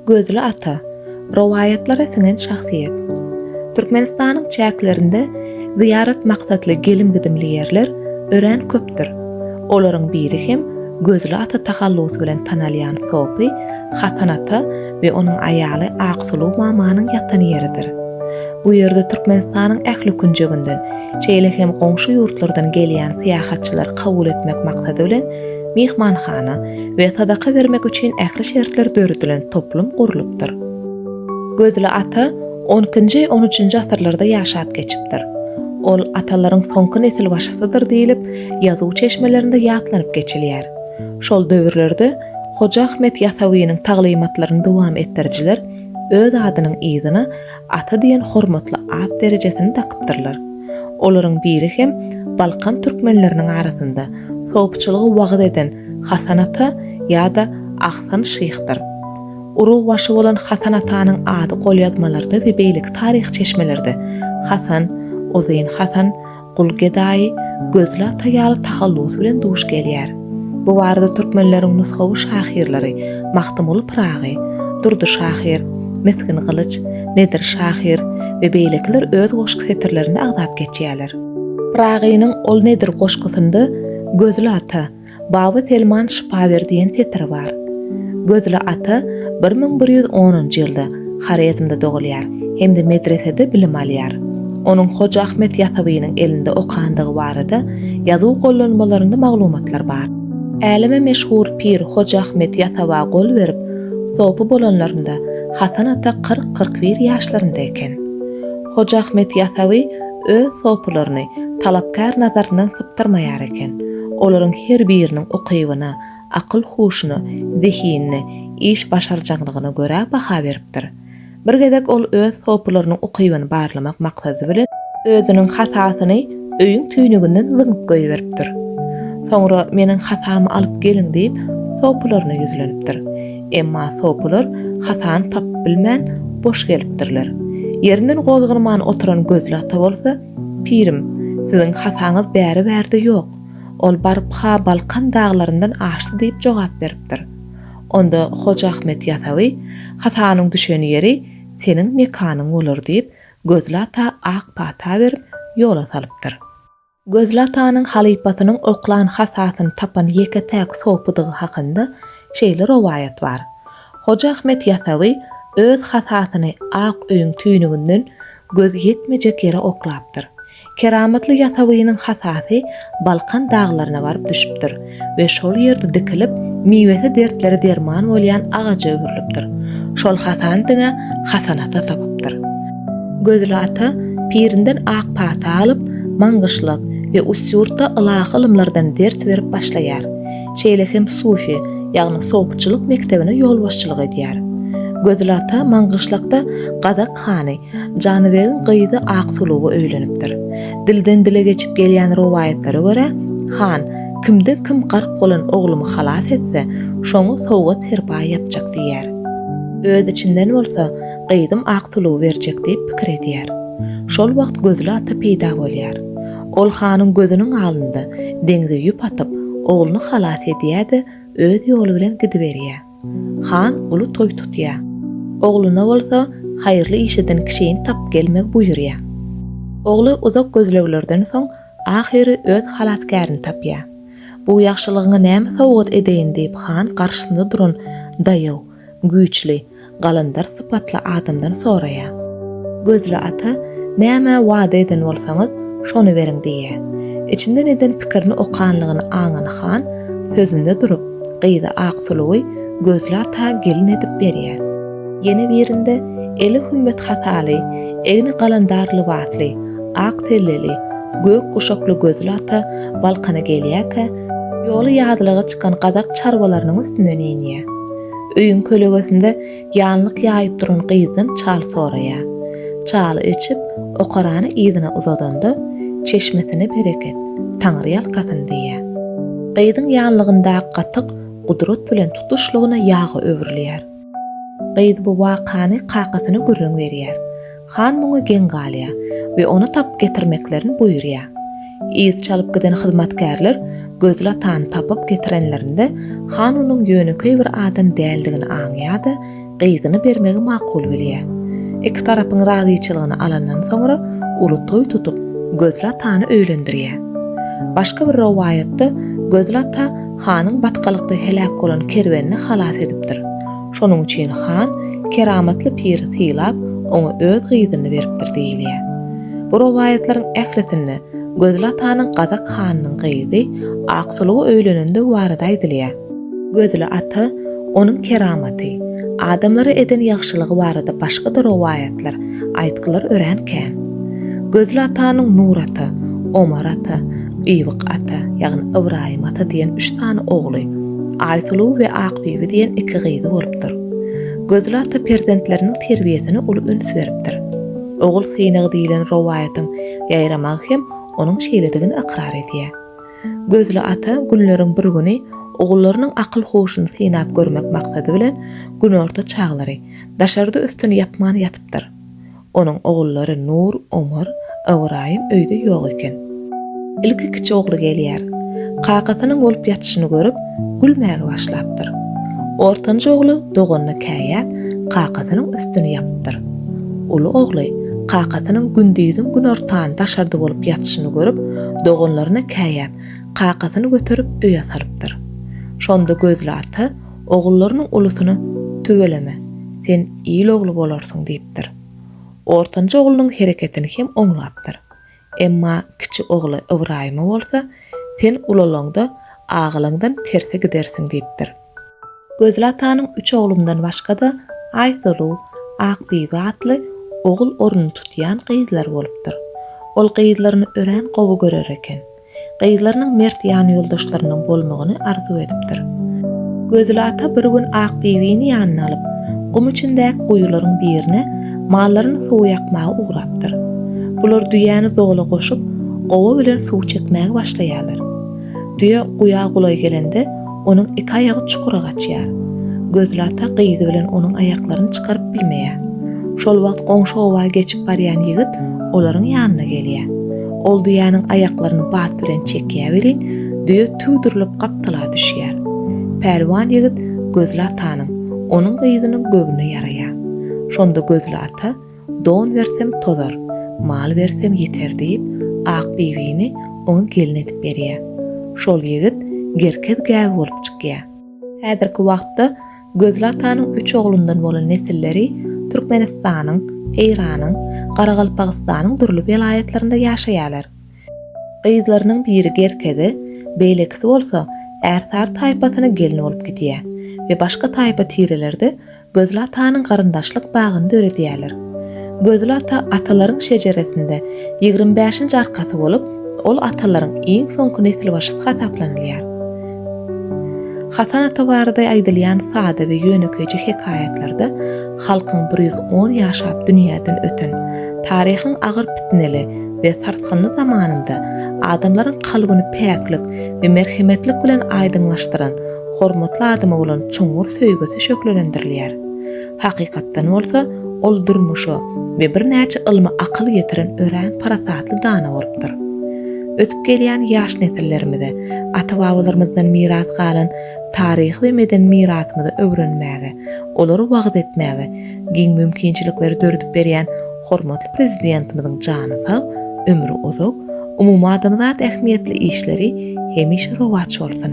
Gözli ata, rowaýatlara siňen şahsyýet. Türkmenistanyň çäklerinde zyýarat maksatly gelim-gidimli ýerler örän köpdür. Olaryň biri hem Gözli ata tahallusy bilen tanalýan sopy Hasan ata we onuň aýaly Aksuluw mamanyň ýatan ýeridir. Bu ýerde Türkmenistanyň ähli künjeginden, şeýle hem goňşy ýurtlardan gelýän syýahatçylary kabul etmek maksady bilen, myhmanhana we sadaka bermek üçin ähli şertler döredilen toplum gurlupdyr. Gözli ata on ikinji, on üçünji asyrlarda ýaşap geçipdir. Ol atalaryň soňky nesilbaşysydyr diýlip, ýazuw çeşmelerinde ýatlanyp geçilýär. Şol döwürlerde Hoja Ahmet Ýasawynyň taglymatlaryny dowam etdirijiler öz adynyň yzyna Ata diýen hormatly at derejesini dakypdyrlar. Olaryň biri hem Balkan türkmenleriniň arasynda sopçylygy wagyz eden Hasan ata ýa-da Ahsan şyhdyr. Urugbaşy bolan Hasan atanyň ady golýazmalarda we beýleki taryh çeşmelerde Hasan, Uzyn Hasan, Gul gedaýy Gözli ata ýaly tahallusy bilen duş gelýär. Bu barada türkmenleriň nusgawy şahyrlary Magtymguly Pyragy, Durdy şahyr, Misgin Gylyç, Nedir şahyr we beýlekiler öz goşgy setirlerinde agzap geçýärler. Pyragynyň Ol nedir goşgusynda Gözli ata, Baba Selman şypa ber diýen setir bar. Gözli ata bir müň bir ýüz onunjy ýylda Horezmde dogulýar hem-de medresede bilim alýar. Onuň Hoja Ahmet Ýasawynyň elinde okandygy barada ýazuw gollanmalarynda maglumatlar bar. Äleme meşhur pir Hoja Ahmet Ýasawa gol berip, sopy bolanlarynda Hasan ata kyrk-kyrk bir ýaşlarynda eken. Hoja Ahmet Ýasawy öz sopularyny talapkär nazaryndan sypdyrmaýar eken. Olaryň her biriniň ukybyna, akyl-huşuna, zehinine, iş başarjaňlygyna görä baha beripdir. Bir gezek ol öz sopularynyň ukybyny barlamak maksady bilen, özüniň hasasyny öýüň tüýnüginden zyňyp goýberipdir. Soňra Meniň hasamy alyp geliň diýip, sopularyna ýüzlenipdir. Emma sopylar hasany tapyp bilmän, boş gelipdirler. Ýerinden gozgalman oturan Gözli ata bolsa, Pirim, siziň hasaňyz bäri-bärde ýok. Ol baryp-ha Balkan daglaryndan aşdy diýip jogap beripdir. Onda Hoja Ahmet Ýasawy, Hasanyň düşen ýeri seniň mekanyň bolar diýip, Gözli ata ak pata berip, ýola salypdyr. Gözli atanyň halypasynyň oklan hasasyny tapan ýeke-täk sopydygy hakynda şeýle rowaýat bar, Hoja Ahmet Ýasawy öz hasasyny ak öýüň tüýnüginden göz ýetmejek ýere oklapdyr. Keramatly Ýasawynyň hasasy Balkan daglaryna baryp düşüpdir. we şol ýerde dikilip, miwesi dertlere derman bolýan agaja öwrülipdir. Şol Hasan diňe Hasan ata tapypdyr. Gözli ata pirinden ak pata alyp, maňgyşlak we Ustyurtda ylahy ylymlardan ders berip başlaýar. Şeýle hem sufi, ýagny sopçylyk mekdebine ýolbaşçylyk edýär. Gözli ata maňgyşlakda gazak Hany, Janybegiň gyzy Aksuluga öýlenipdir. Dilden-dile geçip gelýän rowaýatlara görä, han, Kimde kim gark bolan oglumy halas etse, şoňa sowgat-serpaý ýapjak diýýär. Öz içinden bolsa, Gyzym Aksulugy berjek diýip pikir edýär. Şol wagt Gözli ata peýda bolýar. Ol hanyň gözüniň alynda deňze ýüp atyp, ogluny halas edýär-de, öz ýoly bilen gidiberýär. Han uly toý tutýar. Ogluna bolsa haýyrly iş eden kişini tapyp gelmegi buýurýar. Ogly uzak gözleglerden soň ahyry öz halasgärini tapýar. Bu ýagşylygyňa näme sowgat edeýin diýip han garşysynda duran daýaw, güýçli, galandar sypatly adamdan soraýar. Gözli ata Näme wada eden bolsaňyz, şony beriň diýýär. Içinden eden pikirini okanlygyny aňan han sözünde durup, Gyza ak sulugy Gözli ata gelin edip berýär. Ýene birinde eli hümmet hataly, egni galandar lybasly, ak selleli, gök guşakly Gözli ata Balkana gelýärkä, ýoly ýazlaga çykan gazak çarwalarynyň üstünden inýär. Öýüň kölegesinde Ýalnyk ýaýyp duran gyzdan çal soraýar. Çaly içip, okarany yzyna uzadanda, Çeşmesine bereket, Taňryýalkasyn diýýär. Gyzyň ýalnygyndaky gatyk gudrat bilen tutuşlygyna ýaga öwrülýär. Gyz bu wakany kakasyna gürrüň berýär. Han muňa geň galýar we ony tapyp getirmeklerini buýurýar. Yz çalyp giden hyzmatkärler Gözlatany tapyp getirenlerinde han onuň ýönekeý bir adam däldigini aňýar-da, gyzyny bermegi makul bilýär. Iki tarapyň razyçylygyny alandan soňra uly toý tutup, Gözlatany öýlendirýär. Başga bir rowaýatda Gözlata hanyň batgalykda heläk bolan kerwenini halas edipdir. Şonuň üçin han keramatly piri sylap, oňa öz gyzyny beripdir diýilýär. Bu rowaýatlaryň ählisinde Gözli atanyň gazak hanynyň gyzy Aksuluga öýlenendigi barada aýdylýar. Gözli ata, onuň keramaty, adamlara eden ýagşylygy barada başga-da rowaýatlar, aýtgylar örän kän. Gözli atanyň Nur ata, Omar ata, Ýybyk ata, ýagny Ybraýym ata diýen üç sany ogly, Aýsuluw we Akbibi diýen iki gyzy bolupdyr. Gözli ata perzentleriniň terbiýesine uly üns beripdir. Ogul synagy diýlen rowaýatyň ýaýramagy hem onuň şeýledigini ykrar edýär. Gözli ata günleriň bir güni ogullarynyň akyl-huşuny synap görmek maksady bilen günorta çaglary, daşarda üstüni ýapman ýatypdyr. Onuň ogullary Nur, Omar, Ybraýym öýde ýok eken. Ilki kiçi ogly gelýär. Kakasynyň bolup ýatyşyny görüp, gülmäge başlapdyr. Ortanjy ogly doganyna käýäp, kakasynyň üstüni ýapypdyr. Uly ogly kakasynyň gündiziň günortany daşarda bolup ýatyşyny görüp, doganlaryna käýäp, kakasyny göterip öýe salypdyr. Şonda Gözli ata Ogullarynyň ulusyna Tüweleme, sen il ogly bolarsyň diýipdir. Ortanjy oglunyň hereketini hem oňlapdyr. Emma kiçi ogly Ybraýyma bolsa, Sen ulalaňda, agalaňdan terse gidersiň diýipdir. Gözli atanyň üç oglundan başga-da Aýsulu, Akbibi atly ogul ornuny tutýan gyzlary bolupdyr. Ol gyzlaryny örän gowy görer eken. Gyzlarynyň mert ýanýoldaşlarynyň bolmagyny arzuw edipdir. Gözli ata bir gün Akbibini ýanyna alyp, gum içindäki guýularyň birine mallaryny suw ýakmaga ugrapdyr. Bular düýäni dola goşup, gowa bilen suw çekmäge başlaýarlar. Düýe guýa golaý gelende, Onuň iki aýagy çukura gaçýar. Gözli ata gyzy bilen onuň aýaklaryny çykaryp bilmeýär. Şol wagt goňşy oba geçip barýan ýigit olaryň ýanyna gelýär. Ol düýäniň aýaklaryny bat bilen çekýär welin, düýe tüwdürilip gapdala düşýär. Pälwan ýigit Gözli atanyň, onuň gyzynyň göwnüne ýaraýar. Şonda Gözli ata. Don bersem tozar, mal bersem ýeter diýip, Akbibini oňa gelin edip berýär. Şol ýigit Gerkez gägi bolup çykýar. Häzirki wagtda Gözli atanyň üç oglundan bolan nesilleri Türkmenistanyň, Eýranyň, Garagalpagystanyň dürli welaýatlarynda ýaşaýarlar. Gyzlarynyň biri Gerkeze, beýlekisi bolsa Ärsary taýpasyna gelin bolup gidýär we başga taýpa tirelerde Gözli atanyň garyndaşlyk bagyny döredýärler. Gözli ata atalaryň şejeresinde ýigrimi bäşinji arkasy bolup, ol atalaryň iň soňky nesilbaşysy hasaplanylýar. Hasan ata barada aýdylýan sada we ýönekeýje hekaýatlarda halkyň bir ýüz on ýaşap dünýäden öten, taryhyň agyr pitneli we sarsgynly zamanynda adamlaryň kalbyny päklik we merhemetlik bilen aýdyňlaşdyran hormatly adama bolan çuňňur söýgüsi şöhlelendirilýär. Hakykatdan bolsa, ol durmuşa we birnäçe ylma akyl ýetiren örän parasatly dana bolupdyr. Ösüp gelýän ýaş nesillerimize ata-babalarymyzdan miras galan taryhy we medeni mirasymyzy öwrenmäge, olary wagyz etmäge giň mümkinçilikleri döredip berýän hormatly Prezidentimiziň jany sag, ömri uzak, umumadamzat ähmiýetli işleri hemişe rowaç bolsun!